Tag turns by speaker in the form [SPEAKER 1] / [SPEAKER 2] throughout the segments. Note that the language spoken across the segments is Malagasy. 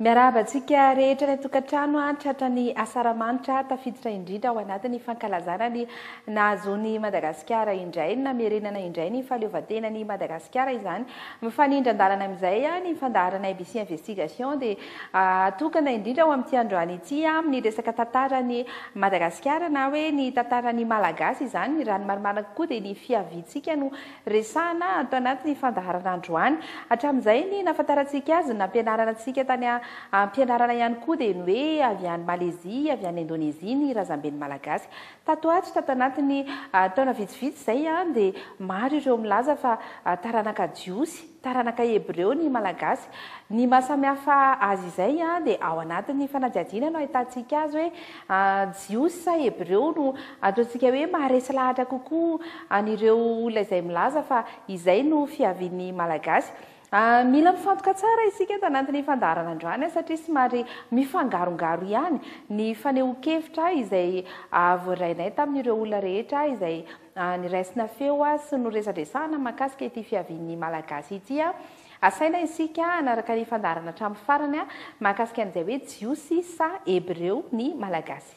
[SPEAKER 1] Miarahaba antsika rehetra any an-tokantrano an, tratran'i Asaramanitra tafiditra indrindra ao anatin'ny fankalazana ny nahazoan'i Madagasikara indray ny namerenana indray ny fahaleovantenan'i Madagasikara izany. Mifanindran-dalana amin'izay ny fandaharanay BC Investigation dia atokana indrindra ho amin'ity androany ity amin'ny resaka tantaran'i Madagasikara na hoe ny tantaran'ny Malagasy izany, raha ny marimarina kokoa dia ny fiaviantsika no Resahina ato anatin'ny fandaharana androany. Hatramin'izay ny nahafantarantsika azy, ny nampianarana antsika tany am-pianarana ihany koa dia ny hoe avy any Malezia, avy any Indonezia ny razamben'ny Malagasy. Tato ato, tato anatin'ny taona vitsivitsy izay dia maro ireo milaza fa taranaka jiosy. Taranaka Hebreo ny Malagasy. Ny maha samihafa azy izay dia ao anatin'ny fanadihadiana no ahitantsika azy hoe Jiosy sa Hebreo no ataontsika hoe maharesy lahatra kokoa an'ireo olona izay milaza fa izay no fiavian'ny Malagasy. Mila mifantoka tsara isika eto anatin'ny fandaharana androany satria somary mifangarongaro ihany ny fanehoan-kevitra izay voarainay tamin'ireo olona rehetra izay Niraisina feo sy noresadresahana mahakasika ity fiavian'ny Malagasy ity. Asaina isika hanaraka ny fandaharana hatramin'ny farany mahakasika an'izay hoe Jiosy sa Hebreo ny Malagasy.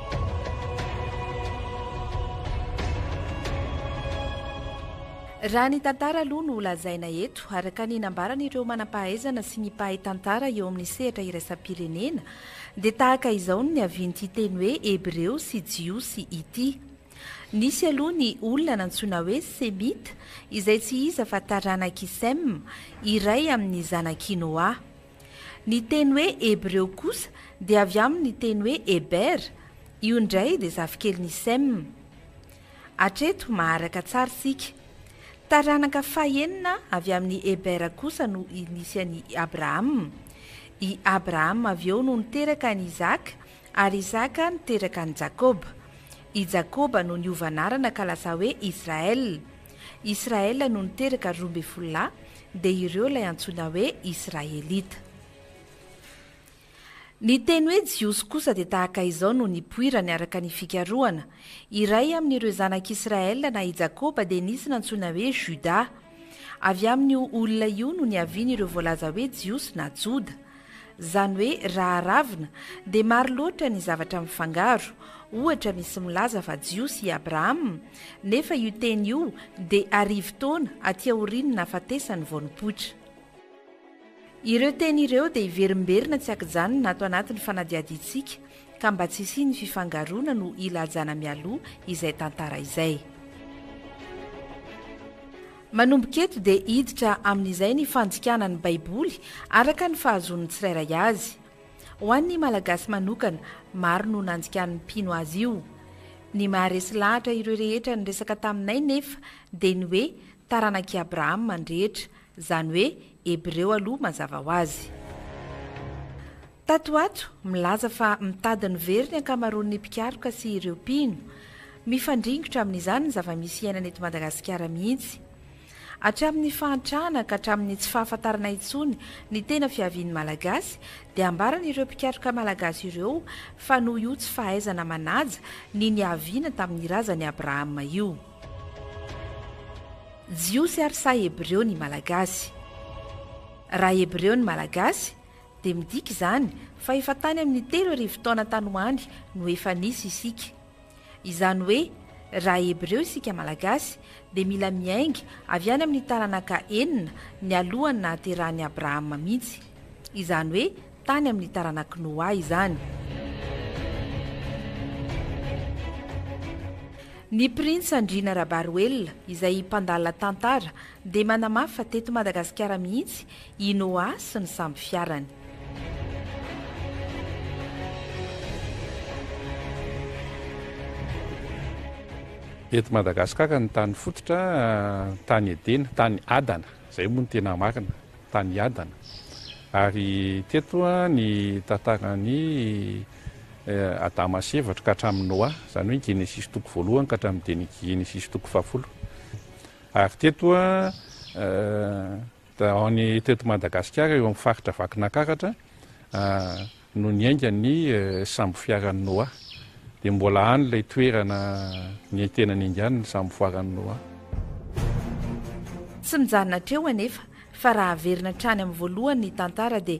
[SPEAKER 1] Raha ny tantara aloha no lazaina eto, araka ny nambaran'ireo manam-pahaizana sy ny mpahay tantara eo amin'ny sehatra iraisam-pirenena, dia tahaka izao ny niavian'ity teny hoe Hebreo sy Jiosy ity. Nisy aloha ny olona nantsoina hoe Semita, izay tsy iza fa taranak'i Sema, iray amin'ny zanak'i Noa. Ny teny hoe Hebreo kosa dia avy amin' ny teny hoe Eber, io indray dia zafikelin' i Sem. Hatreto maharaka tsara isika. Taranaka fahenina avy amin' i Eber kosa no nisy an' i Abrahama. I Abrahama avy eo no niteraka an' i Isaka, Ary Isaka niteraka an'i Jakoba. I Jakoba no niova anarana ka lasa hoe Israel. Israel no niteraka roa ambin'ny folo lahy, dia ireo ilay antsoina hoe Israelita. Ny teny hoe Jiosy kosa dia tahaka izao no nipoirany araka ny fikarohana, Iray amin'ireo zanak'Israel na i Jakoba dia nisy nantsoina hoe Juda. Avy amin'io olona io no niavian'ireo voalaza hoe Jiosy na Joda. Izany hoe raha aravona dia maro loatra ny zavatra mifangaro, ohatra misy milaza fa jiosy i Abrahama nefa io teny io dia arivo taona aty aorian'ny nahafatesany vao nipoitra. Ireo teny ireo dia hiverimberina tsy ankijanona ato anatin'ny fanadihadiantsika ka mba tsy hisian'ny fifangaroana no hilajana mialoha izay tantara izay. Manomboka eto dia hiditra amin'izay ny fandikana ny Baiboly araka ny fahazoan'ny tsirairay azy. Ho an'ny Malagasy manokana, maro no nandikan'ny mpino azy io. Ny maharesy lahatra ireo rehetra niresaka taminay nefa dia ny hoe taranak'i Abrahama ny rehetra, izany hoe Hebreo aloha mazava ho azy. Tato ho ato, milaza fa mitady ny very ny ankamaroan'ny mpikaroka sy ireo mpino. Mifandringotra amin'izany ny zava-misy iainana eto Madagasikara mihitsy. Hatramin'ny fahantrana ka hatramin'ny tsy fahafantarana intsony ny tena fiavian'ny Malagasy dia ambaran'ireo mpikaroka malagasy ireo fa noho io tsy fahaizana manaja ny niaviana tamin'ny razan'i Abrahama io. Jiosy ary sa Hebreo ny Malagasy? Raha Hebreo ny Malagasy, dia midika izany fa efa tany amin'ny telo arivo taona tany ho any no efa nisy isika. Izany hoe raha Hebreo isika Malagasy dia mila miainga avy any amin'ny taranaka enina nialohan'ny nahaterahan'i Abrahama mihitsy. Izany hoe tany amin'ny taranak'i Noa izany. Ny Printsy Andriana Rabaroelina izay mpandala tantara dia manamafy fa teto Madagasikara mihitsy I Noa sy ny sambo fiarany. Eto Madagasikara ny tany fototra, tany Edena, tany Adana, izay moa no tena marina, tany Adana. Ary teto ny tantaran'i Adama sy Eva ka hatramin'i Noa, izany hoe Genesisy toko voalohany ka hatramin'ny Genesisy toko fahafolo. Ary teto Ao ny teto Madagasikara eo amin'ny faritra Vakinankaratra no niainga ny sambofiaran'i Noah. Dia mbola any ilay toerana niaintenany ingany ny sambofiaran'i Noah. Tsy mijanona hatreo anefa fa raha averina hatrany amin'ny voalohany ny tantara dia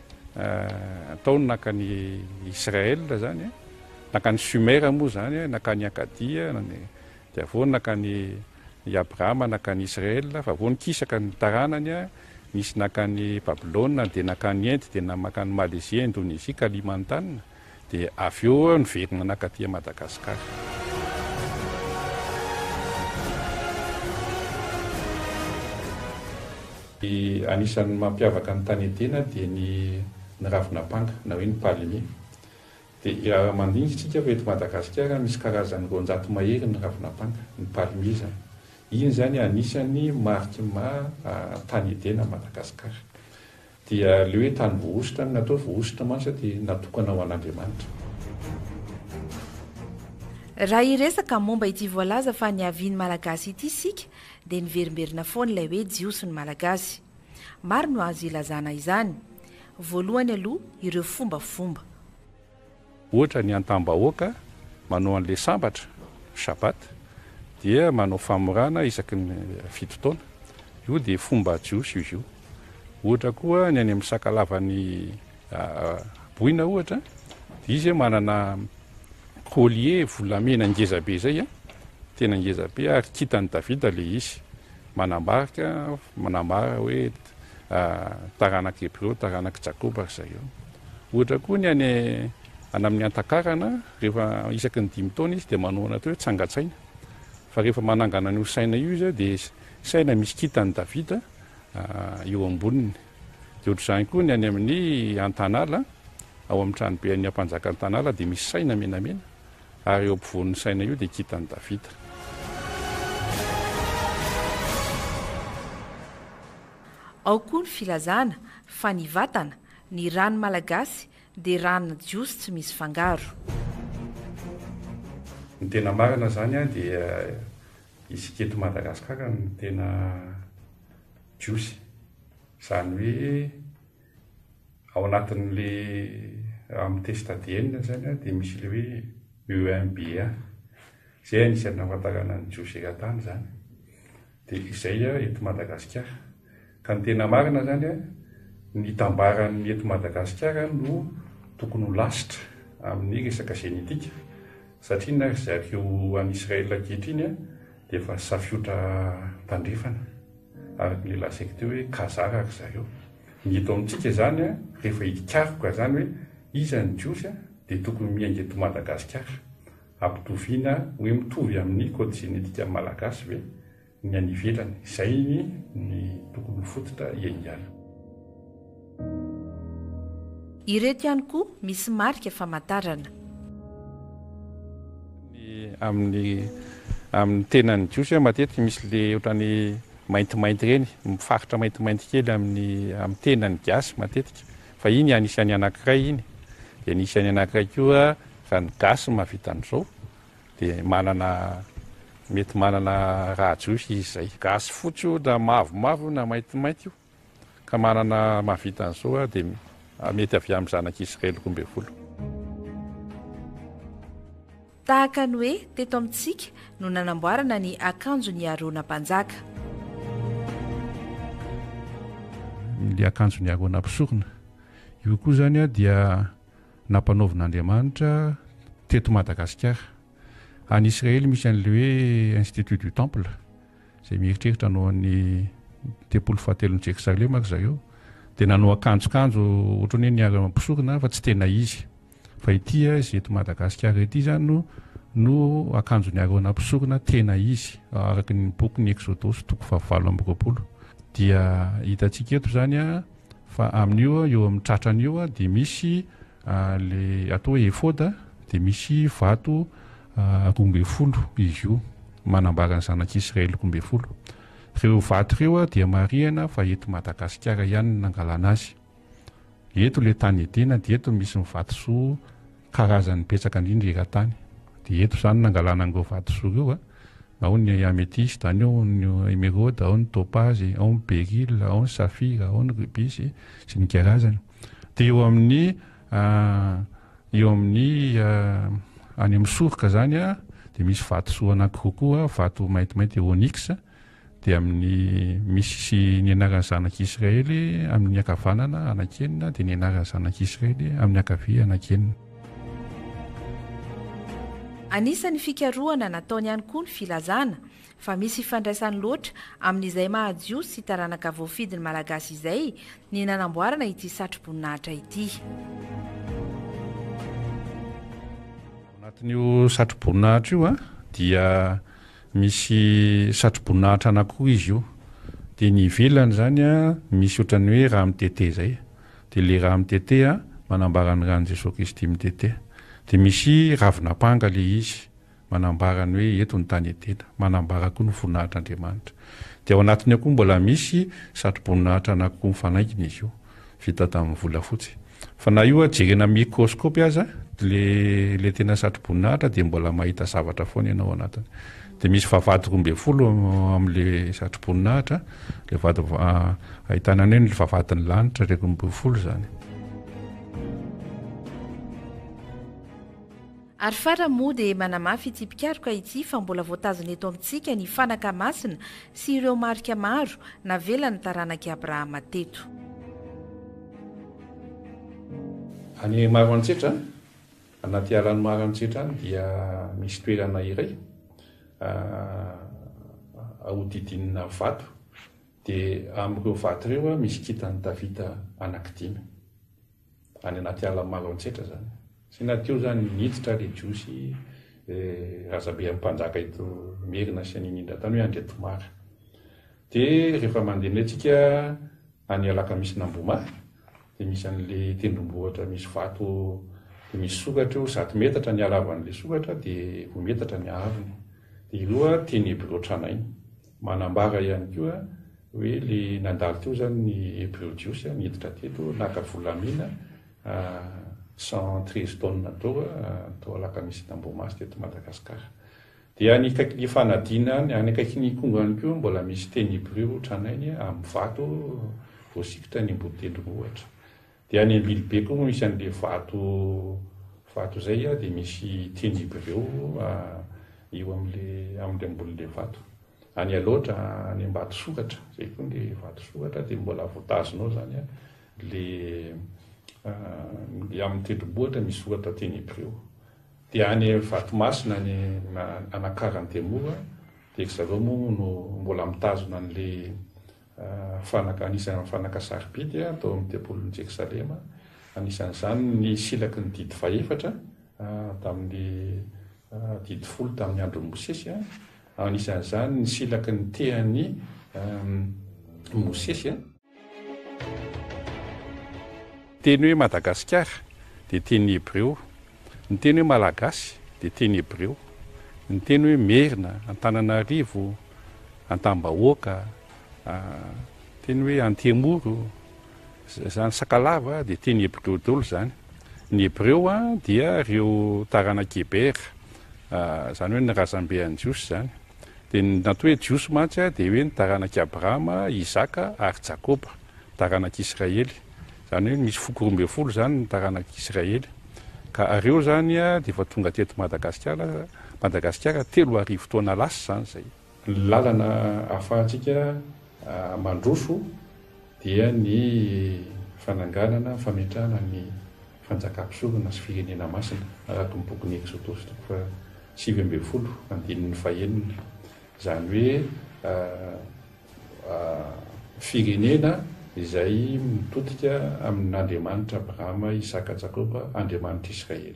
[SPEAKER 1] Nataony nankany Israël zany, nankany Sumer moa zany, nankany Akadia, dia avy eo nankany i Abraham nankany Israël, fa avy eo nikisaka ny taranany, nisy nankany Babylona, dia nankany Inde, dia nankany Malaisie, Indonesie, Kalimantan, dia avy eo niverina nankaty Madagascar. Ny anisan'ny mampiavaka ny tany Edena dia ny ny ravin'ampanga na hoe ny palmier. Dia mandiniky isika fa eto Madagasikara misy karazany roanjato mahery ny ravin'ampanga, ny palmier izany. Iny izany anisan'ny mariky ny maha tany Edena an'i Madagasikara. Dia ilay hoe tany voahosotra no natao hoe voahosotra mantsy dia natokana ho an'Andriamanitra. Raha hiresaka momba ity voalaza fa niavian'ny Malagasy ity isika dia niverimberina foana ilay hoe Jiosy ny Malagasy. Maro no azo ilazana izany. Voalohany aloha ireo fombafomba. Ohatra ny antam-bahoaka manao an'ilay sambatra, Shabbat, dia manao famorana isaky ny fito taona. Io dia fomba jiosy izy io. Ohatra koa ny any amin'ny sakalavan'ny boina ohatra, dia izy manana collier volamena ngeza be izay, tena ngeza be, ary kintan'i Davida ilay izy, manambara, manambara hoe taranak'i Hebreo, taranak'i Jakoba ry zareo. Ohatra koa ny any amin'ny Antakarana, rehefa isaky ny dimy taona izy dia manao an'ilay atao hoe tsangan-tsaina. Fa rehefa manangana an'io saina io izy dia saina misy kintan'i Davida eo amboniny. Dia ohatr'izany koa ny any amin'ny Antanala, ao amin'ny tranobe an'ny ampanjaka Antanala dia misy saina menamena. Ary eo ampovoan'ny saina io dia kintan'i Davida. Ao koa ny filazana fa ny vatana, ny ran'ny Malagasy, dia ran'ny Jiosy tsy misy fangaro. Ny tena marina zany an dia isika eto Madagascar no tena Jiosy. Zany hoe ao anatin'le amin'ny test ADN izany an, dia misy ilay hoe EMBA. Izay anisan'ny nahafantarana an'i Joe Serratany izany. Dia izay an, eto Madagasikara. Ka ny tena marina izany an, ny tambaran'ny eto Madagasikara no tokony ho lasitra amin'ny resaka zenetika. Satria na ry zareo any Israel ankehitriny an, dia efa safiotra tandrefana. Araka ilay lazaiko teo hoe kazara ry zareo. Ny eto amintsika izany an, rehefa hikaroka izany hoe iza ny Jiosy an, dia tokony miainga eto Madagasikara. Ampitoviana hoe mitovy amin'ny code génétique malagasy ve ny any ivelany. Izay ny tokony ho fototra hiaingana. Ireto ihany koa misy marika famantarana. Ny amin'ny amin'ny tenan'ny jiosy matetika misy ilay ohatran'ny maintimainty ireny, faritra maintimainty kely amin'ny amin'ny tenan'ny gasy matetika, fa iny anisan'ny anankiray iny, dia nisy any anankiray koa raha ny gasy no mahavita an'izao dia manana mety manana raha jiosy izy izay. Gasy fotsy io na mavomavo io na maintimainty io. ka manana mahavita an'izao dia mety avy amin'ny zanak'i Israely roa ambin'ny folo. Tahaka ny hoe teto amintsika no nanamboarana ny akanjon'i Arona mpanjaka. Ilay akanjon'i Arona mpisorona. Io koa izany dia nampanaovin'Andriamanitra teto Madagasikara. Any Israely misy an'ilay hoe Institut du Temple. izay mieritreritra hanao an'ny tempoly fahatelon'i Jerosalema ry zareo, dia nanao akanjokanjo ohatran'ny hoe niharan'ny mpisorona fa tsy tena izy. Fa ity izay eto Madagasikara ity izany no no akanjon'i Arona mpisorona tena izy, araka ny bokin'ny Eksodosy toko fahavalo amby roapolo. Dia hitantsika eto izany fa amin'io eo amin'ny tratrany io dia misy Le atao hoe efoda dia misy vato roa ambin'ny folo izy io manambara ny zanak'i Israely roa ambin'ny folo. Ireo vato ireo dia marihana fa eto Madagasikara ihany no nangalana azy. Eto ilay tany Edena dia eto misy ny vatosoa karazany betsaka indrindra eran-tany. Dia eto izany nangalana an'ireo vatosoa ireo, ao ny ametista, any ao ny emeraude, ao ny topazy, ao ny beryl, ao ny safira, ao ny rubis sy ny karazany. dia eo amin'ny eo amin'ny any amin'ny soroka zany a dia misy vato soa anankiroa koa vato maintimainty eo onyx dia amin'ny misy sy ny anaran'ny zanak'israely amin'ny akavanana anakenina dia ny anaran'ny zanak'israely amin'ny akavia anakenina Anisan'ny fikarohana nataony ihany koa ny filazana fa misy ifandraisany loatra amin'izay maha-Jiosy sy taranaka voafidy ny Malagasy izay ny nanamboarana ity satroboninahitra ity. Ao anatin'io satroboninahitra io dia misy satroboninahitra anankiroa izy io, dia ny ivelany izany misy ohatran'ny hoe rà mitete izay, dia ilay rà mitete manambara ny ràn'i Jesoa Kristy mitete, dia misy ravin'ampanga ilay izy, manambara ny hoe eto ny tany Edena, manambara koa ny voninahitr'Andriamanitra. Dia ao anatiny ao koa mbola misy satroboninahitra anankiroa mifanaingina izy io, vita tamin'ny volafotsy. Fa na io jerena amin'ny mikrôskôpy aza ilay ilay tena satroboninahitra dia mbola mahita zavatra foana ianao ao anatiny. Dia misy vavahady roa ambin'ny folo amin'ilay satroboninahitra, ilay vady ahitana ny hoe ny vavahadin'ny lanitra ilay roa ambin'ny folo izany. Ary farany moa dia manamafy ity mpikaroka ity fa mbola voatazona eto amintsika ny fanaka masina sy ireo marika maro navelan'ny taranak'i Abrahama teto. Any Maroantsetra, anaty alan'i Maroantsetra any dia misy toerana iray ahodidinina vato dia amin'ireo vato ireo misy kintan'i Davida anaky dimy. any anaty ala maro antsetra zany sy na teo zany niditra ry jiosy razabe am mpanjaka eto merina sy an'iny indra tany hoe andriatomary de rehefa mandeha indray tsika any alakamisy namboma de misy an'le tendrombohitra misy vato de misy sokatra eo zato metatra ny halavan'le sokatra de roa metatra ny ahavony de ireo a teny hebrio tranainy Manambara ihany koa hoe ilay nandalo teo izany ny Hebreo Jiosy niditra teto naka volamena cent treize tonnes d'or tao Alakamisy na Ambohimaso teto Madagasikara. Dia ny ny fanadina any akaikin'ny Ikongo ihany koa mbola misy teny Hebreo tranainy amin'ny vato voasikitra eny Amboditendrombohitra. Dia any Ambilobe koa misy an'ilay vato vato izay a, dia misy tenibreo a eo amin'ilay amin'ilay ambonin'ilay vato. Any Alaotra, any Ambatosokatra, izay koa ilay vatosokatra dia mbola voatazona ao izany a, ilay a ilay amin'ny tendrombohitra misy soratra tenibreo. Dia any Vatomasina any Anakarana Antemoro a, dia ry zareo moa no mbola mitazona an'ilay fanaka, anisan'ny amin'ny fanaka sarobidy tao amin'ny tempolin'i Jerosalema, anisan'izany ny silaky ny didy fahefatra tamin'ny didy folo tamin'ny andron'i Mosesy, anisan'izany ny silaky ny tehan'i Mosesy. Teny hoe Madagasikara dia teny hebreo, ny teny hoe Malagasy dia teny hebreo, ny teny hoe Merina, Antananarivo, Antambahoaka, teny hoe Antemoro, izany Sakalava dia teny hebreo daholo izany. Ny hebreo dia ireo taranak'i Heber, izany hoe ny razambe an'i Jiosy izany. Dia ny natao hoe Jiosy mantsy dia hoe ny taranak'i Abrahama, Isaka ary Jakoba, taranak'i Israely. Izany hoe misy foko roa ambin'ny folo izany ny taranak'i Israely. Ka ireo izany dia efa tonga teto Madagasikara, Madagasikara, telo arivo taona lasa izany izay. Ny lalana ahafahantsika mandroso dia ny fananganana, fametrahana ny fanjakam-pisorona sy firenena masina, araka ny bokin'i Eksodosy toko faha sivy ambin'ny folo andininy faha enina. Izany hoe. firenena izay mitodika amin' Andriamanitra Abrahama, Isaka, Jakoba, Andriamanitr'Israely.